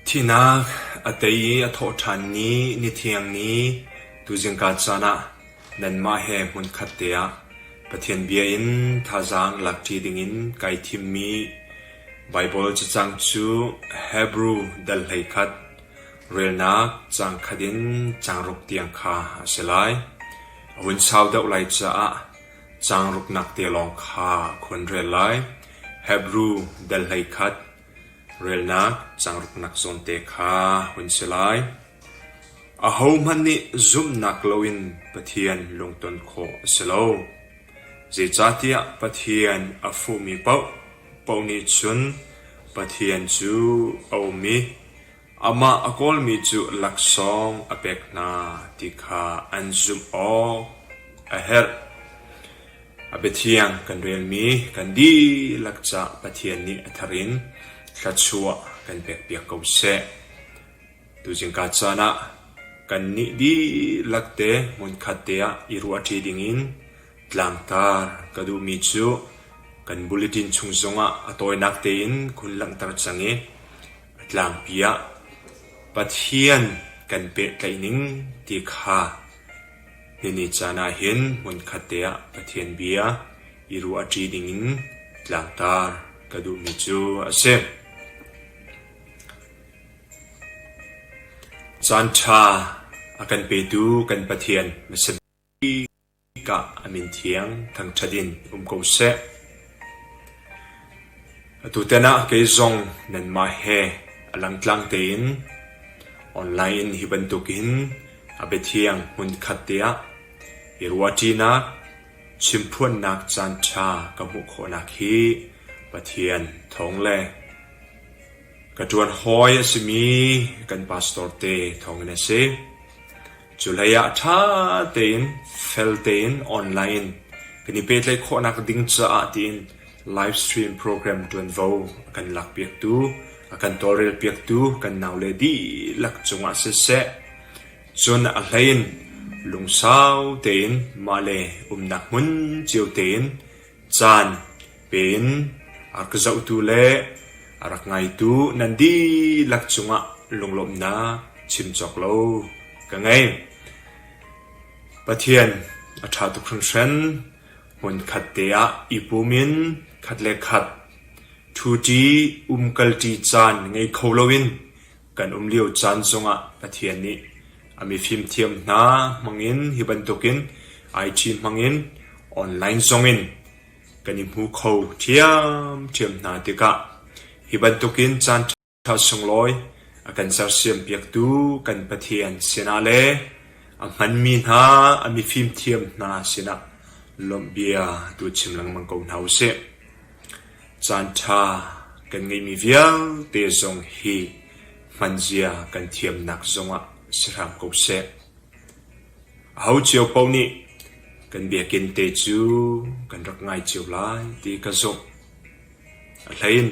Thihnak a tei i a thawh ṭhanmi nithiang nih tuzingka caan ah nanmah he hmunkhat te ah Pathian bia in thazaang lakṭi dingin kai thimmi Baibal cacang cu Hebru dal hleikhat, relnak cang khat in cang ruk tiang kha a si lai. A hun sau deuh lai caah Caang ruknak te lawng kha khon rel lai. Hebru delhlei khat relnak caang ruknak zawn te kha hun si lai. Ahohmanh nih zumhnak loin Pathian lungton khawh a si lo. Zeicahtiah Pathian a fuhmi paoh paoh nih cun Pathian cu a um i Amah a kawlmi cu laksawng a pek hna ti kha an zumh awk a herh. A biathiang kan relmi kan dihlak cah Pathian nih a thar in thluachuah kan pekpiak ko seh. Tuzing ka caan ah kannih dihlak te hmunkhat te ah i ruahṭi dingin tlangtar ka duhmi cu kan bulletin chung zongah a tawinak tein khun langhter cang i A tlangpi ah Pathian kan pehtlaih ning ti kha nihni caan ah hin hmunkhatte ah Pathian bia i ruah a ṭi dingin tlangtar ka duhmi cu a si. Caanṭha a kan petu kan Pathian na si. Hika a min thiang thangṭhat in um ko seh. Atu ten ah kei zong nanmah he a langtlang tein online in hi bantuk hin a biathiang hmunkhat te ah i ruahṭinak, chimphuannak caanṭha ka hmuh khawhnak hi Pathian thawng le ka ṭuan hawi a simi kan pastor te thawngin a si. Culei ah ṭha tein fel tein online kan i pehtlaih khawhnak ding caah tiin live stream program ṭuanvo a kan lakpiaktu, a kan tawlrelpiaktu kan naule dihlak cungah siseh, cun a hleiin lungsau tein mah le umnak hmun cio tein caan pe in a ka zohtu le a rak ngaitu nan dihlak cungah lunglawmhnak chim cawk lo ka ngei. Pathian a ṭha tuk hringhran. Hmunkhat te ah i pum in khat le khat ṭhuṭi umkalṭi caan ngei kho loin Kan um lio caan zongah Pathian nih a mifimthiam hna hmangin hi bantukin ai ṭhi hmangin online zongin kan i hmu kho ṭhiamṭhiam hna tikah hi bantukin caan ṭha sunglawi a kan sersiampiaktu kan Pathian sinah le a hmanmi hna a mifimthiam hna sinah lawmh bia tu chim lengmang ko hna u sih. Caanṭha kan ngeihmi vialte zong hi hmanzia kan thiamnak zongah si hram ko seh. Aho cio paoh nih kan biakinn te cu kan rak ngai cio lai ti ka zumh. Ahlein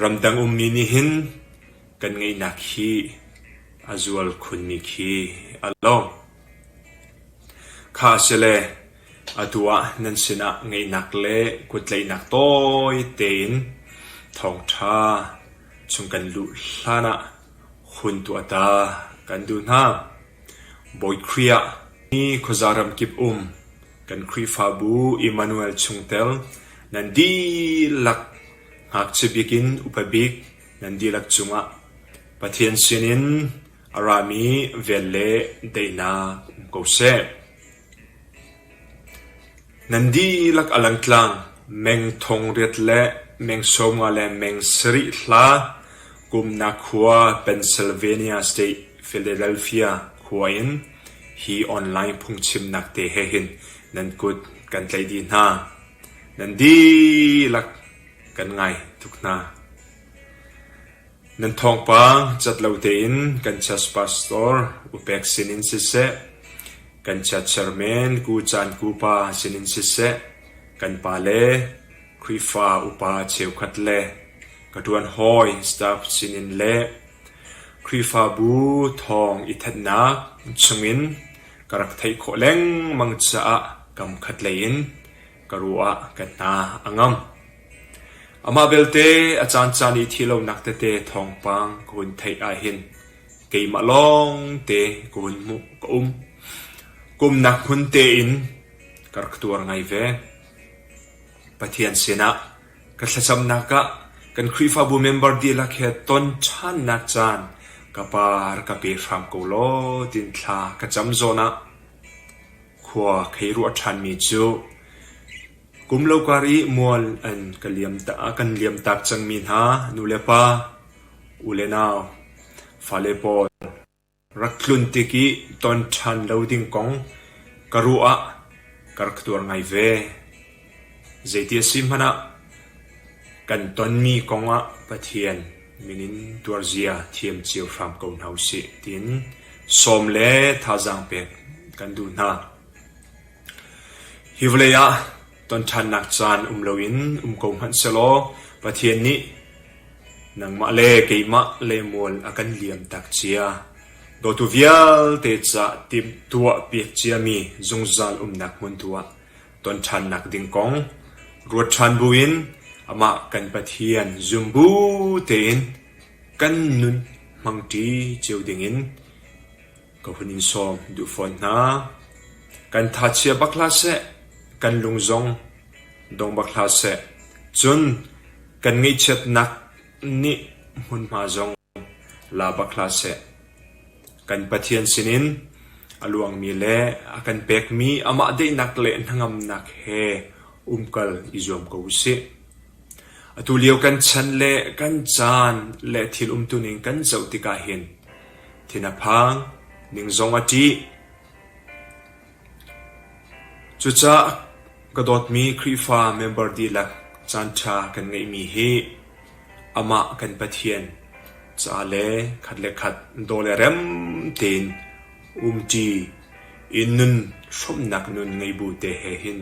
ramdang ummi nih hin kan ngeihnak hi a zual khunmi khi a lawng. Kha a si le Atu ah nan sinah ngeihnak le kuttlaihnak tawite in thawngṭha chung kan luh hlanah hun tuah ta kan duh hna. Bawi Khrih ah hi khuaza ramkip um kan Khrihfabu Immanuel chungtel nan dihlak ngakchia bik in upa bik nan dihlak cungah Pathian sinin a rami vel le daihnak um ko seh. Nan dihlak a lang tlang meng thong riat le meng sawmnga le meng sarih hla kumnak khua Pennsylvania State, Philadelphia khua in hi online phungchimnak te he hin nan kut kan tlaih dih hna. Nan dihlak kan ngai tuk hna. Nan thawngpa cat lo tein kan chiat pastor upek sinin siseh, kan chiatchiar men ku caan ku pa sinin siseh, kan pa le Khrihfa upa cheukhat le ka ṭuan hawi staff sinin le Khrihfabu thawng i thatnak chungin ka rak theih khawh lengmang caah kam khatlei in ka ruah ah ka hna a ngam. Amah belte a caancaan i thi lonak tete thawngpang ka hun theih ahhin keimah lawngte ka hun hmuh ka um. Kumnak hmun tein ka rak tuar ngai ve. Pathian sinah ka thlacamnak ah kan Khrihfabu member dihlak he ton ṭhannak caan ka par ka pe hram ko law tin thla ka cam zawn ah khua khei ruah ṭhanmi cu kum lo kar i mual an kan liam tak cangmi hna nulepa, u le nau, fale pawl, rak tlun tik i ton ṭhan lo ding kong ka ruah ah ka rak tuar ngai ve. Zeiti a si hmanh ah kan tonmi kong ah Pathian min in tuarzia thiam cio hram ko hna u sih tiin sawm le thazaang pek kan duh hna. Hi vawlei ah tonṭhannak caan um loin um ko hmanh sehlaw Pathian nih nangmah le keimah lemual a kan liam tak cia. Dawtu vialte ca timh tuah piak ciami zungzal umnak hmun tu ah ton ṭhannak ding kong ruat ṭhan buin amah kan Pathian zum bu tein kan nun hmangṭi cio dingin ka hun in sawm duh fawn hna. Kan thachia bak hlah seh, kan lung zong dong bak hlah seh, cun kan ngaihchiatnak nih hmunhma zong la bak hlah seh. Kan Pathian sinin a luangmi le a kan pekmi amah daihnak le hnangamnak he umkal i zuam ko u sih. Atu lio kan chan le kan caan le thil umtuning kan zoh tikah hin thina phang, ning zong a ṭih, Cucah ka dawtmi Khrihfa member dihlak caanṭha kan ngeihmi hi amah kan Pathian ca le khat le khat daw le rem tein umṭi i nun hrawmhnak nun ngei bu te he hin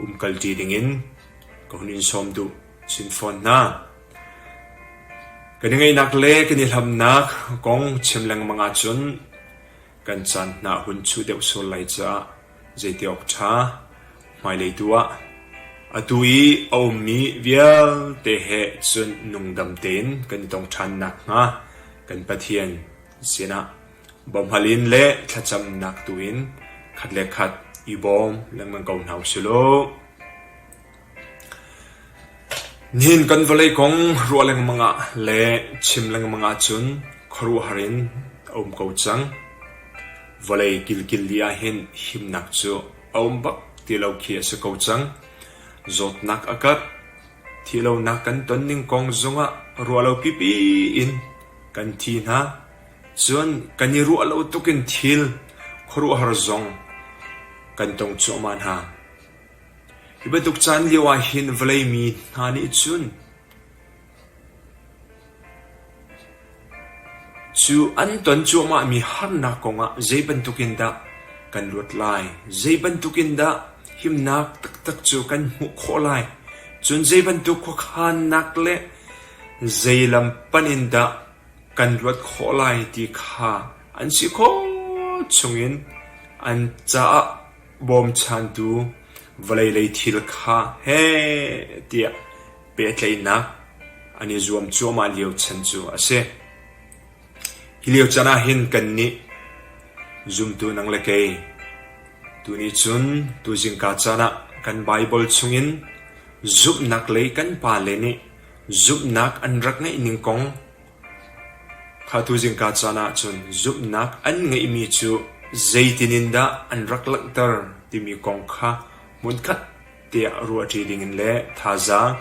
umkalṭi dingin ka hun in sawm duh chin fawn hna. Kan i ngaihnak le kan i hlamnak kong chim lengmang ahcun kan caan hna a hun chuh deuh sual lai caah zeiti awk ṭha. Hmailei tu ah atu i a ummi vialte he cun nungdam tein kan i tong ṭhan nakhnga kan Pathian sinah bawmhal in le thlacamnak tu in khat le khat i bawm lengmang ko hna u sih law. Nihin kan vawlei kong ruah lengmang ah le chim lengmang ahcun khuaruahhar in a um ko cang. Vawlei kilkil dih ahhin himnak cu a um bak ti lo khi a si ko cang. Zawtnak a kat. Thihlonak kan ton ning kong zongah ruah lo pipi in kan thi hna. Cun kan i ruah lo tuk in thil khuaruahhar zong kan tong cuahmah hna. Hi bantuk caan lio ah hin vawlei mi hna nih cun cu an ton cuahmahmi harnak kong ah zei bantuk in dah kan luat lai? Zei bantuk in dah himnak taktak cu kan hmuh khawh lai? Cun zei bantuk khuakhannak le zei lam panh in dah kan luat khawh lai ti kha an si khawh chung in an caah bawmchantu vawlei lei thil kha heh tiah pehtlaihnak an i zuam cuahmah lio chan cu a si. Hi lio chan ah hin kannih zumtu nang le kei tuni cun tuzingka caan ah kan Baibal chungin zumhnak lei kan pa le nih zumhnak an rak ngeih ning kong Kha tu zingka caan ahcun zumhnak an ngeihmi cu zeitin in dah an rak langhter timi kong kha hmunkhat te ah ruahṭi dingin le thazaang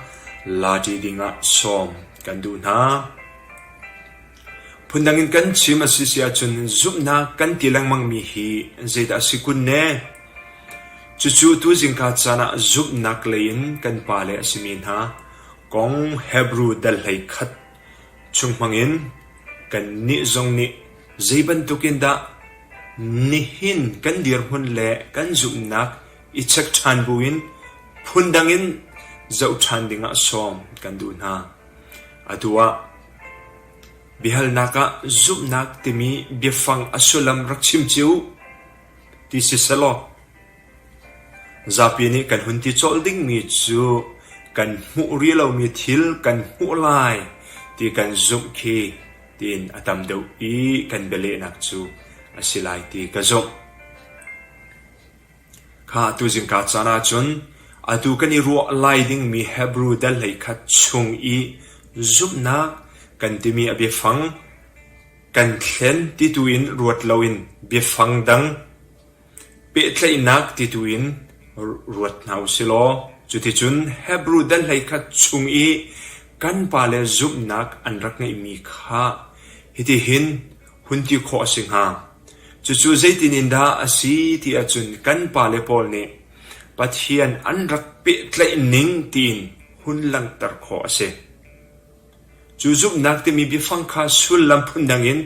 laṭi dingah sawm kan duh hna. Phundang in kan chim a si si ahcun zumhnak kan ti lengmangmi hi zeidah a si kun ne? Cucu tu zingka caan ah zumhnak lei in kan pale a simi hna kong Hebru dal hlei khat Chung hmangin kannih zong nih zeibantukin dah nihin kan dirhmun le kan zumhnak i check ṭhan buin phundang in zoh ṭhan dingah sawm kan duh hna. Atu ah biahalnak ah zumhnak timi biafang a sullam rak chim cio u, ti si selaw. Zapi nih kan hun ti colh dingmi cu kan hmuh rih lomi thil kan hmuh lai ti kan zumh khi tiin a tam deuh i kan bialehnak cu a si lai ti ka zumh. Kha tuzing ka caan ahcun atu kan i ruah lai dingmi Hebru dal hleikhat chung i zumhnak kan timi a biafang kan thlen ti tu in ruat loin biafang dang Pehtlaihnak ti tu in ruat hna u si law cuticun Hebru dahlei khat chung i kan pale zumhnak an rak ngeihmi kha hitihin hun ti khawh a si hnga: Cucu zeitin in dah a si ti ahcun kan pale pawl nih Pathian an rak pehtlaih ning tiin hun langhter khawh a si. Cu zumhnak timi biafang kha sullam phundang in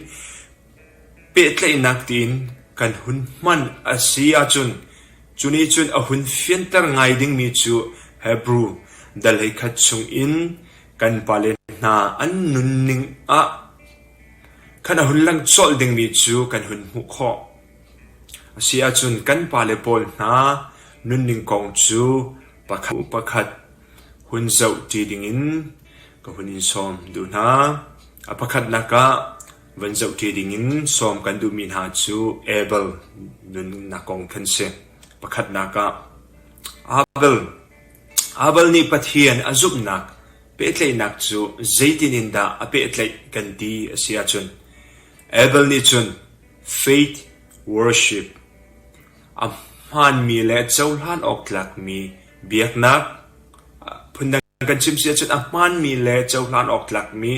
Pehtlaihnak tiin kan hun hman a si ahcun cu nih cun a hun fianter ngai dingmi cu Hebru dal hei khat chungin kan pale hna an nunning ah khan a hun lang colh dingmi cu kan hun hmuh khawh. A si ahcun kan pale pawl hna nunning kong cu pakhat pakhat hun zoh ṭi dingin ka hun in sawm duh hna. A pakhatnak ah Van zoh ṭi dingin sawm kan duhmi hna cu Abel nunnak kong khan a si. Pakhatnak ah Abel Abel nih Pathian a zumhnak pehtlaihnak cu zeitin in dah a pehtlaih kan ti a si ahcun Abel nih cun faith worship a hmaanmi le cohlan awk tlakmi biaknak phundang An kan chimh si ahcun a hmaanmi le cohlan awk tlakmi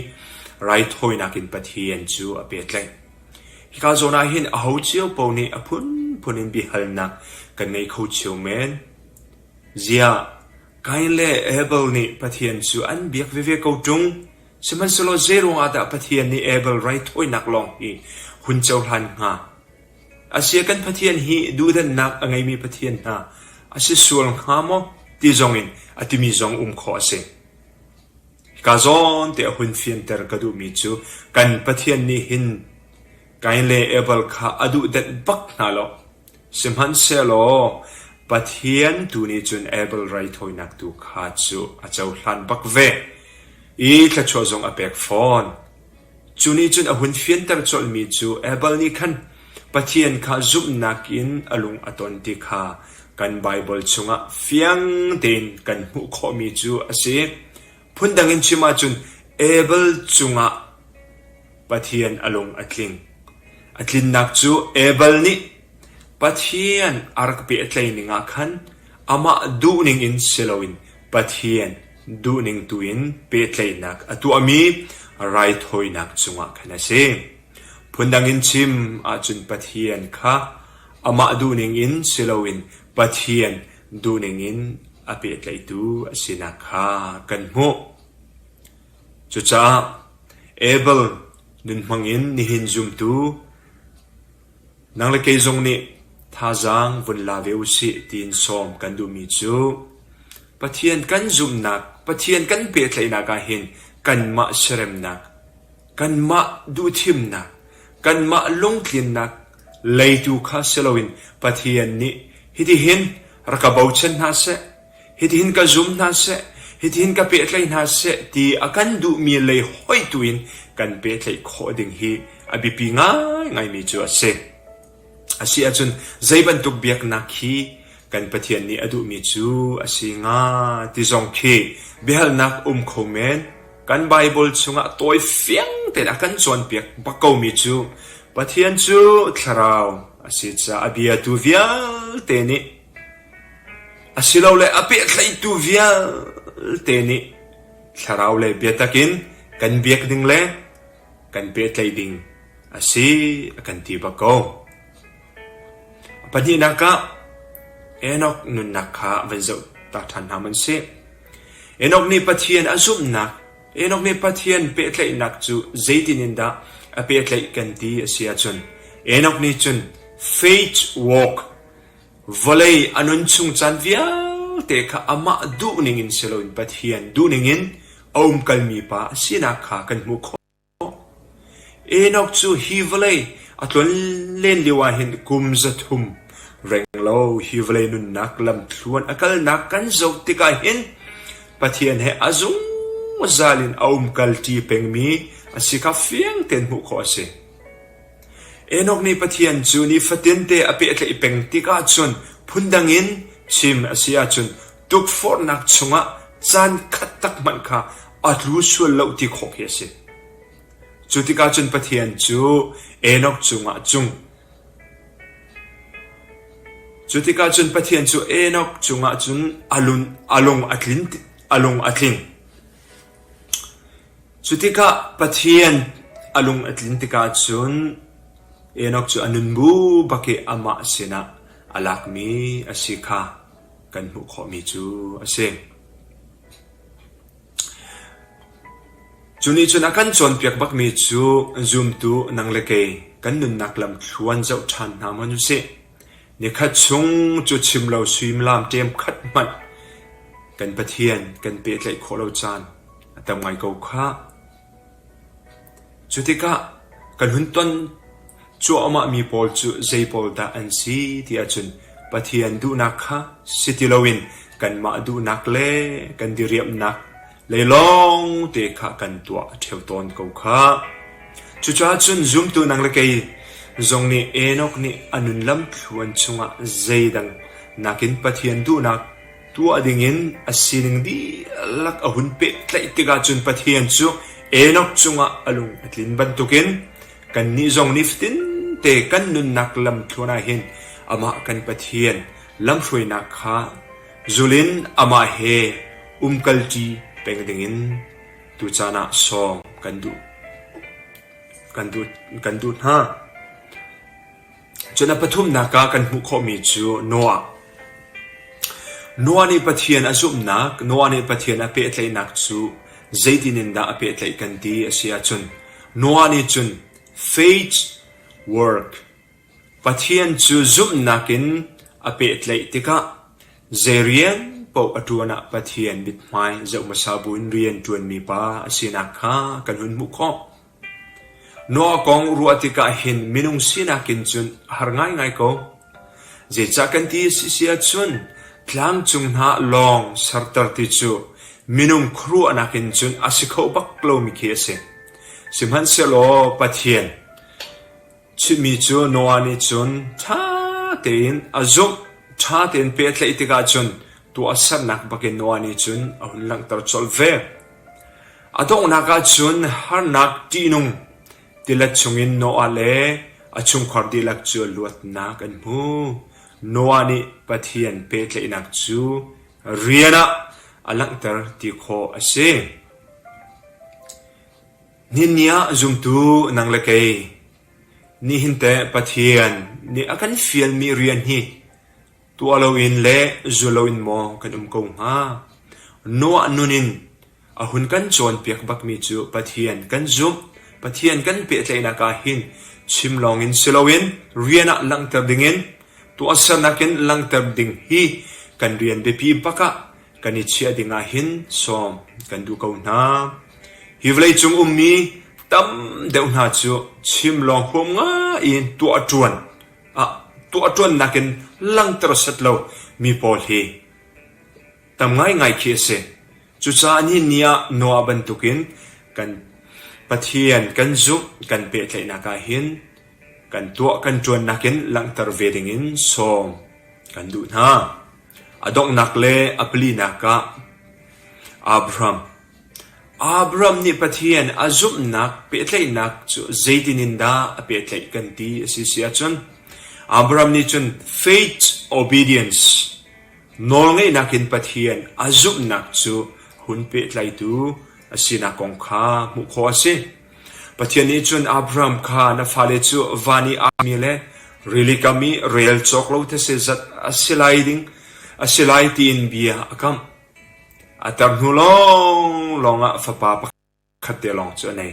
raithawinak in Pathian cu a pehtlaih. Hika zawn ah hin aho cio paoh nih a phunphun in biahalnak kan ngei kho cio men. Ziah, Kain le Abel nih Pathian cu an biak veve ko ṭung. Sihmanhsehlaw zei ruangah dah Pathian nih Abel raithawinak lawng hi hun cohlan hnga? Asia kan Pathian hi duhdanhnak a ngeimi Pathian hna a si sual hnga maw ti zongin a timi zong um khawh a si. Hika zawn te a hun fianter ka duhmi cu kan Pathian nih hin Kain le Abel kha a duhdanh bak hna lo. Sihmanhsehlaw Pathian tu nih cun Abel raithawinak tu kha cu a cohlan bak ve i thluachuah zong a pek fawn. Cu nih cun a hun fianter colhmi cu Abel nih khan Pathian kha zumhnak in a lung a ton ti kha kan Baibal chungah fiang tein kan hmuh khawhmi cu a si. Phundang in chim ahcun Abel cungah Pathian a lung a tling. A tlinnak cu Abel nih Pathian a rak bia a tlei ningah khan amah duhning in si loin Pathian Duhning tuin pehtlaihnak a tuahmi raithawinak cungah khan a si. Phundang in chim ahcun Pathian kha amah duhning in si loin Pathian duhning in a pehtlaihtu a sinak kha kan hmuh. Cucaah Abel nun hmangin nihin zumtu Nang le kei zong nih thazaang vun la ve usih tiin sawm kan duhmi cu Pathian kan zumhnak, Pathian kan pehtlaihnak ahhin kanmah siaremnak, kanmah duhthimnak, kanmah lungtlinnak lei tu kha si loin Pathian nih hitihin rak ka bochan hna seh. Hitihin ka zum hna seh, hitihin ka pehtlaih hna seh ti a kan duhmi lei hoih tuin kan pehtlaih khawh ding hi a biapi ngaingaimi cu a si. A si ahcun zei bantuk biaknak hi kan Pathian nih a duhmi cu a si hnga ti zong khi biahalnak um kho men. Kan Baibal chungah tawi fiang tein a kan cawnpiak bak komi cu Pathian cu thlarau a si caah a biatu vialte nih Asilole a pehtlaihtu vialte nih thlaraulei biatak in kan biak ding le kan pehtlaih ding a si a kan ti bak ko. Pahnihnak ah Enok nunnak kha van zohtak ṭhan hna man si. Enok nih Pathian a zumhnak, Enok nih Pathian pehtlaihnak cu zeitin in dah a pehtlaih kan ti a si ahcun Enok nih cun faith walk vawlei a nun chung caan vialte kha amah duhning in si loin Pathian duhning in a umkalmi Pa a sinak kha kan hmuh khawh. Enoch cu hi vawlei a tlun len lio ah hin kum zathum renglo hi vawlei nunnak lamthluan a kalnak kan zoh tikah hin Pathian he a zungzal in a umkalṭi pengmi a si kha fiang tein hmuh khawh a si. Enok nih Pathian cu nifate a pehtlaih peng tikah cun phundang in chim a si ahcun tukforhnak chungah caan khat tak hmanh kha a tlu sual lo ti khawh khi a si. Cu tikah cun Pathian cu Enok cungah a cung. Cu tikah cun Pathian cu Enok cungah cun a lung a, lung a, tlin, a lung a tling. Cu tikah Pathian a lung a tlin tikah cun Enok cu a nun bu bak i amah sinah a lakmi a si kha kan hmuh khawhmi cu a si. Cu nih cun a kan cawnpiak bakmi cu zumtu nang le kei kan nunnak lamthluan zoh ṭhan hna maw nu sih. Nikhat chung cu chim lo suimilam ṭemkhat hmanh kan Pathian kan pehtlaih khawh lo caan a tam ngai ko khah. Cu tikah kan hun ton cuahmahmi pawl cu zei pawl dah an si ti ahcun Pathian duhnak kha si ti loin kanmah duhnak le kan diriamhnak Leilawng te kha kan tuah a ṭheu tawn ko khah. Cucaah cun zumtu nang le kei zong nih Enok nih a nun lamthluan chungah zeidang nakin Pathian duhnak tuah dingin a sining dihlak a hun pehtlaih tikah cun Pathian cu Enok cungah a lung a tlin bantukin kannih zong nifatin te kan nunnak lamthluan ah hin amah kan Pathian lamhruainak kha Zulin amah he umkalṭi peng dingin tu caan ah sawm kan duh. Kan duh, kan duh hna. Cun a pathumnak ah kan hmuh khawhmi cu Noah. Noah nih Pathian a zumhnak, Noah nih Pathian a pehtlaihnak cu zeitin in dah a pehtlaih kan ti a si ahcun Noah nih cun faith work Pathian cu zumhnak in a pehtlaih tikah zei rian paoh a ṭuan ah Pathian mithmai zoh hmasa buin rian ṭuanmi pa a sinak kha kan hun hmuh khawh. Noah kong ruah tikah hin minung sinak in cun a har ngaingai ko. Zeicah kan ti a si si ahcun tlangcung hna lawng serter ti cu minung khuaruahnak in cun a si kho bak lomi khi a si. Sihmanhsehlaw Pathian, Chimmi cu Noah nih cun ṭha tein a zumh, ṭha tein pehtlaih tikah cun tuahsernak bakin Noah nih cun a hun langhter colh ve. A donghnak ah cun harnak ṭihnung tilet chungin Noah le a chungkhar dihlak cu luatnak an hmu. Noah nih Pathian pehtlaihnak cu rian ah a langhter ti khawh a si. Nihin ah zumtu nang le kei, nihin teh Pathian nih a kan fialmi rian hi tuah loin le zul loin maw kan um ko hnga? Noah nun in a hun kan cawnpiak bakmi cu Pathian kan zumh, Pathian kan pehtlaihnak ah hin chim lawngin si loin rian ah langhter dingin tuahsernak in langhter ding hi kan rian biapi bak ah kan i chiah ding ahhin sawm kan duh ko hna. Hi vawleicung ummi tam deuh hna cu chim lawng huam ngai in tuah ṭuan ah tuah ṭuannak in langter set lo mi pawl hi tam ngaingai khi a si. Cucaah ni ni ah Noah bantukin kan Pathian kan zumh kan pehtlaihnak ahhin kan tuah kan ṭuannak in langhter ve dingin sawm kan duh hna. A donghnak le a palinak ah Abraham Abraham nih Pathian a zumhnak pehtlaihnak cu zeitin in dah a pehtlaih kan ti a si si ahcun Abraham nih cun faith obedience nawlngeihnak in Pathian a zumhnak cu hun pehtlaitu a sinak kong kha hmuh khawh a si. Pathian nih cun Abraham kha na fale cu van i armi le rili kam i rel cawk lo thetse zat a si lai ding a si lai tiin bia a kamh. A tar hnu lawnglawng ah fapa pakhat te lawng cu a nei.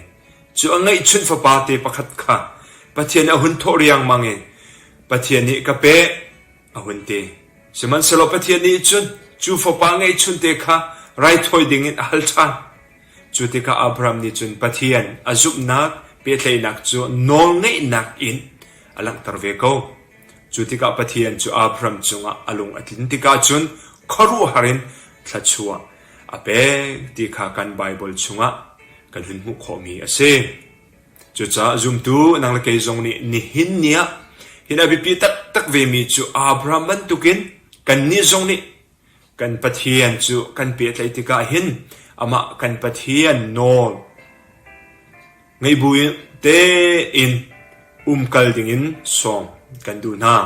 Cu a ngeihchunh fapa te pakhat kha Pathian a hun thawh riangmang i, Pathian nih ka peh, a hun ti. Sihmanhsehlaw Pathian nih cun cu fapa ngeihchunte kha raithawi dingin a hal ṭhan. Cu tikah Abraham nih cun Pathian a zumhnak pehtlaihnak cu nawlngeihnak in a langhter ve ko. Cu tikah Pathian cu Abraham cungah a lung a tlin tikah cun khuaruahhar in thluachuah a pek ti kha kan Baibal chungah kan hun hmuh khawhmi a si. Cucaah zumtu nang le kei zong nih nihin ni ah hi a biapi taktak vemi cu Abraham bantukin kannih zong nih kan Pathian cu kan pehtlaih tikah hin amah kan Pathian nawl ngei buin tein umkal dingin sawm kan duh hna.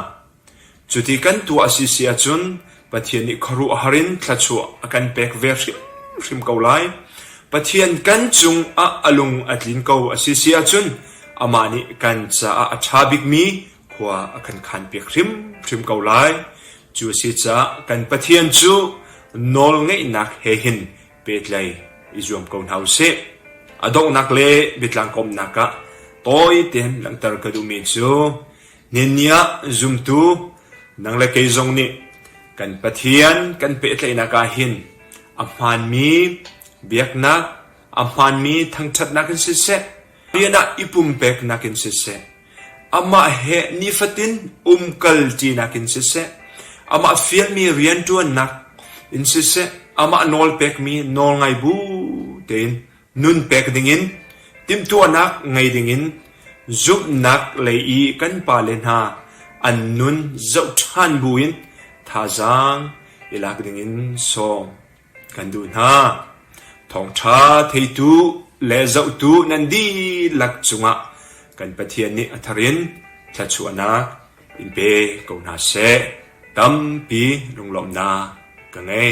Cuti kan tuah a si si ahcun Pathian nih khuaruah har in thluachuah a kan pek ve hrim ko lai. Pathian kan cungah a lung a tlin ko a si si ahcun amah nih kan caah a ṭha bikmi khua a kan khanpiak hrimhrim ko lai. Cu a si caah kan Pathian cu nawlngeihnak he hin petlei i zuam ko hna u sih. A donghnak le biatlang komhnak ah tawi tein langhter ka duhmi cu Ninih zumtu nang le kei zong nih kan Pathian kan pehtlaihnak ahhin a hmaanmi biaknak, a hmaanmi thangṭhatnak in siseh, rian ah i pumpeknak in siseh, amah he nifatin umkalṭinak in siseh, amah fialmi rianṭuannak in siseh, amah nawlpekmi nawlngai bu tein Nun pek dingin, timhtuahnak ngei dingin zumhnak lei i kan pale hna an nun zoh ṭhan buin thazaang i lak dingin sawm kan duh hna. Thawngṭha theitu le zohtu nan dihlak cungah kan Pathian nih a tharin thluachuahnak in pe ko hna seh. Tampi lunglawmhnak ka ngei.